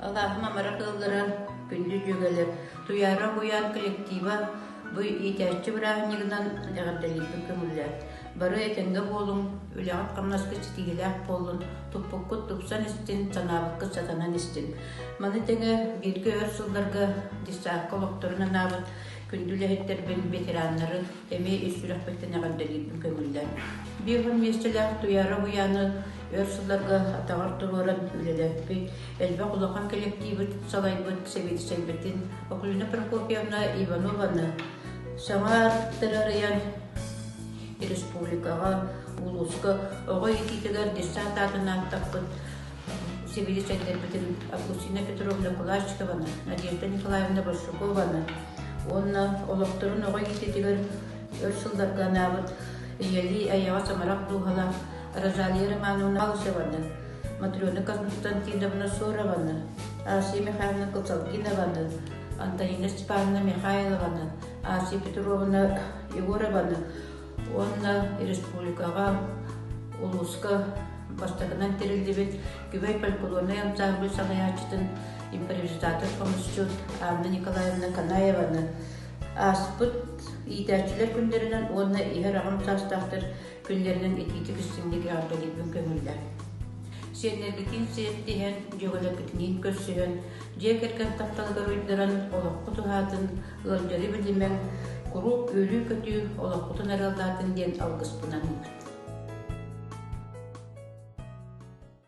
Алааһым амара кылгыран, күндү дьүгэлэр, Туйаара буйаан коллектива бу иитээччи бырааһынньыгынан эҕэрдэлиирбин көҥүллээн, бары этэнгэ буолуҥ, үлэҕит-хамнаскыт ситиһиилээх буоллун, туппуккут тупсан истин, санаабыккыт сатанан истин. Маны тэҥэ бииргэ өр сылларга десантка олохторун анаабыт күндү үлэһиттэрбин, ветераннарын, эмиэ ис сүрэхпиттэн эҕэрдэлиирбин көҥүллэр. Биир оһон миэстэлээх Туйаара уһуйааны өр сылларга атаҕар туруоран үлэлэппит, элбэх улахан кэлэктиибит салайбыт сэбиэдиссэйбитин Окулина Прокопьевна Иванованы саҥа аттары арыйан республикаҕа, улууска оҕо иитиитигэр десант аатын ааттаппыт сибилисэндэрбитин Августина Петровна Кулачкованы, Надежда Николаевна Большакованы уонна олохторун оҕо иититигэр өр сылларга анаабыт ийэлии айаҕа самарах дууһалаах Розалия Романовна Алышеваны, Матрена Константиновна Сорованы, Асия Михайловна Косалкинованы, Антонина Степановна Михайлованы, Асия Петровна Егорованы уонна республикаҕа, улууска бастакынан тэриллибит Күбэй фольклорнай ансаамбыл салайааччытын импровизатор хомусчут Анна Николаевна Канаеваны ааспыт иитээччилэр күндэринэн уонна иһэр аҕам саастаахтар күннэринэн итиитик истиҥник эҕэрдэлиибин көҥүллэр. Сиэннэргитин сиэттиһэн, дьөгөлөкүтүнүүн көрсүһэн, дьиэ кэргэн тапталыгар уйдаран, олоххут уһаатын, Ыалдьары билимэҥ, куруук үөлүү-көтүү, олоххутун арыаллаатын диэн алгыспынан ылбыт.